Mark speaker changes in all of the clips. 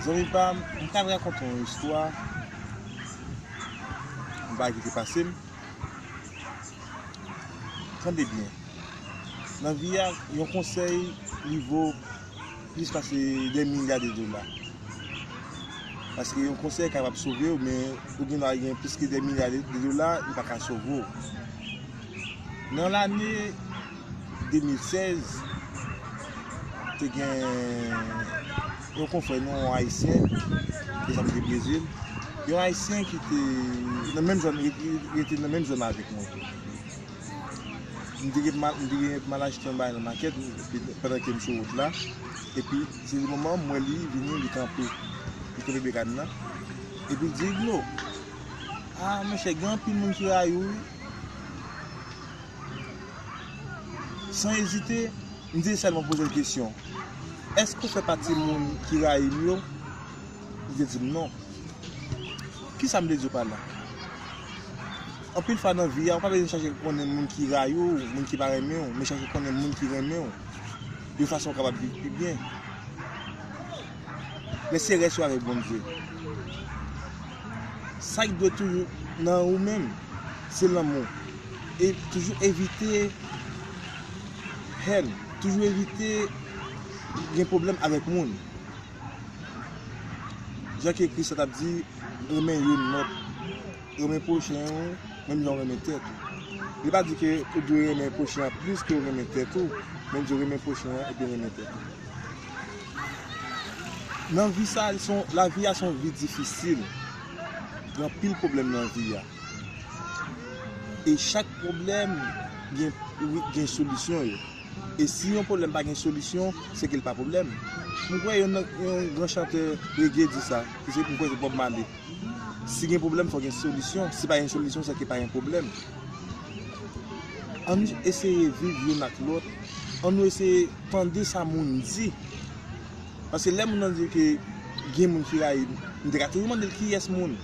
Speaker 1: Zanmi pam m tap rakonte yon istwa yon bagay ki te pase m tande byen nan vi a yon konsèy li vo plis pase de milya de dola paske yon konsèy kapab sove w men ou gen dwa gen plis ke de milya de dola li paka sove w nan lane 2016, te gen yon konfrè nou, yon Ayisyen, ke sa m te Brezil, yon Ayisyen ki te nan menm zòn, ki rete nan menm zòn avèk mwen. M te gen pou m al achte yon bagay nan makèt, pandan ke m sou wout la, epi se yon moman m wè li vini, li kanpe, li kanpe bekan nan, epi l di, Eglo, a monchè, gen anpil moun ki rayi w wi. San ezite, m te sèlman poze l kesyon, Èske ou fè pati moun ki rayi m yo? Li te di m non. Ki sa m te di w pa la? Anpil fwa nan vi a, ou pa bezwen chache konnen moun ki rayi w, moun ki pa renmen w, men chache konnen moun ki renmen w, yon fason ou kapab viv pi byen. Men se rès yo avèk Bondye. Sa ki dwe toujou nan ou menm, se lanmou. E toujou evite haine, toujou evite gen pwoblèm avèk moun. Jan ke Kris la t ap di, renmen youn lòt, renmen pwochen ou menm jan ou renmen tèt ou. Li pa di ke ou dwe renmen pwochen an plis ke ou renmen tèt ou, men li di renmen pwochen an epi renmen tèt ou. Nan vi sa, lavi a se yon vi difisil, gen anpil pwoblèm nan vi a. E chak pwoblèm gen solisyon yo. E si yon pwoblèm pa gen solisyon, se ke li pa pwoblèm. M kwè yon gran chantè rege di sa, m kwè se Bob Marley. Si gen pwoblèm, fò gen solisyon. Si pa gen solisyon, se ke pa gen pwoblèm. An nou eseye viv youn ak lòt. An nou eseye tande sa moun di. Paske lè moun nan di ke gen moun ki rayi m, m te ka toujou mande l kiyès moun.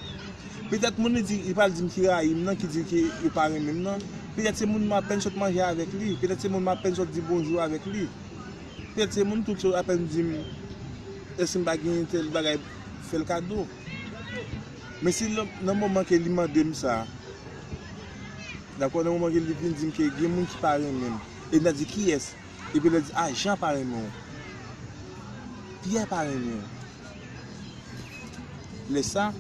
Speaker 1: Petèt moun li di, li pral di m ki rayi m nan, ki di ke yo pa renmen m nan, petèt se moun m apèn sot manje avèk li, petèt se moun m apèn sot di bonjou avèk li, petèt se moun tou ki sot apèn di m èske m pa genyen tèl bagay fè l kado. Men si nan moman ke li mande m sa, dakò, nan moman ke li vin di m ke gen moun ki pa renmen m, e m ta di kiyès? Epi lè di, a Jan pa renmen w. Pyè pa renmen w. Lè sa,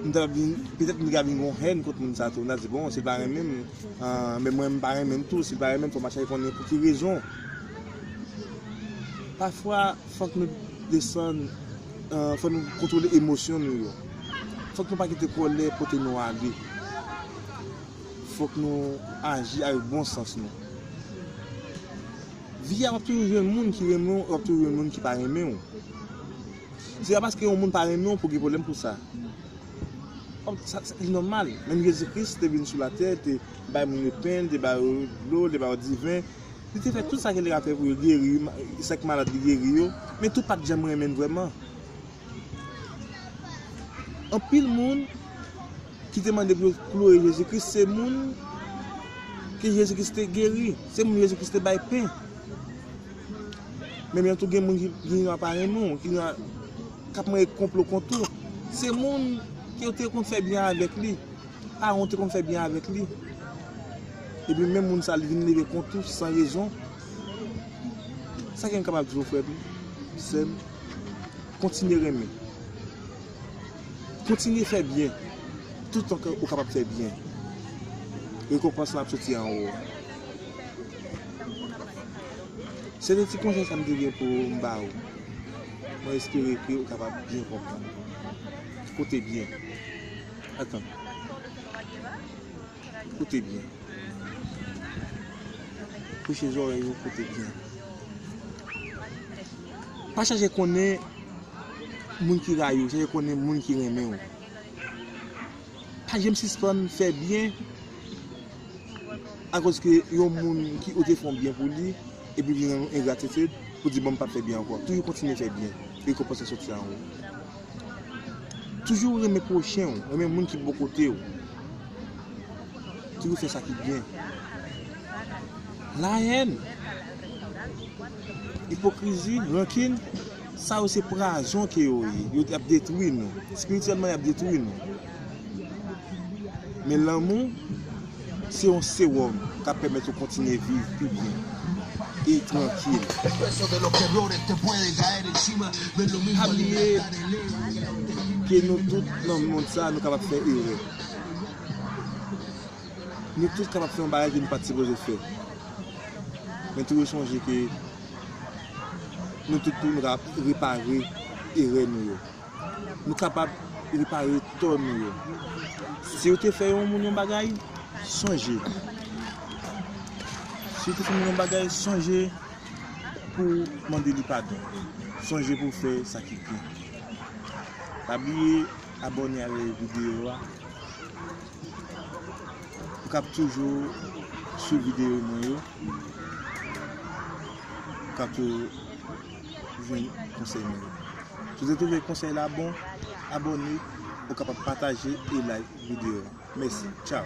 Speaker 1: m ta vin, petèt m ta vin gon hèn kont moun sa tou. M ta di, bon, si l pa renmen m, men mwen m pa renmen l tou. Si l pa renmen m, fò m al chache konnen pou ki rezon. Pafwa, fòk nou desann, fòk nou kontwole emosyon nou yo. Fòk nou pa kite kòlè pote nou ale. Fok nou aji avek bon sans nou. Vi a wap toujou jwenn moun ki renmen w e wap toujou jwenn moun ki pa renmen w. Se pa paske yon moun pa renmen w pou gen pwoblèm pou sa. Sa li nòmal. Menm Jezi Kris te vin sou latè, li te bay moun yo pen, li te ba yo dlo, li te ba yo diven. Li te fè tout sa ki te ka fè pou yo geri, sa ki malad li geri yo. Men tout pat janm renmen l vrèman. Anpil moun. ki te mande pou yo kloure Jezi Kris se moun ke Jezi Kris te geri, se moun Jezi Kris te bay pen. Menm jan tou gen moun ki vini nan aparèy nou, ki nan, k ap mande konplo kont ou, se moun ke yo te konn fè byen avèk li, paran w te konn fè byen avèk li, epi menm moun sa li vin leve kont ou san rezon, sa ke m kapab di w frè m, sè m, kontinye renmen. Kontinye fè byen toutan ke ou kapab fè byen. Rekonpans lan ap soti anwo. Se te ti konsèy sa m te gen pou m ba ou. Mwen espere ke ou kapab byen konprann. Koute byen. Atann. Koute byen. Preche zorèy ou, koute byen. Pa chache konnen. Moun ki rayi w, chèche konnen moun ki renmen w. Pa janm sispann fè byen akozke yon moun ki ou te fè yon byen pou li epi vin rann ou engratitid pou di bon m pap fè byen ankò. Toujou kontinye fè byen, rekonpans la soti anwo. Toujou renmen pwochen w, renmen moun ki bò kote w. Toujou fè sa ki byen. Lahèn, ipokrizi, rankin. Sa yo se prazon ke yo ye. Yo ap detwi nou. Spirityèlman yap detwi nou. Men lanmou se yon sewòm kap pèmèt ou kontinye viv pi byen e trankil. Pa bliye ke nou tout nan mond sa nou kapab fè erè. Nou tout kapab fè yon bagay ke nou pat sipoze fè. Men toujou sonje ke nou tout pou nou ta repare erè nou yo. Nou kapab repare tò nou yo. Si ou te fè yon moun yon bagay, sonje. Si ou te fè moun yon bagay, sonje pou ou mande li padon. Sonje pou ou fè sa ki byen. Pa bliye abòne avè videyo a. Ou kab toujou sou videyo mwen yo. Kant yo jwenn konsèy mwen yo. Si w te twouve konsèy la bon, abòne, ou kapab pataje e like videyo a. Mèsi. Tchaw!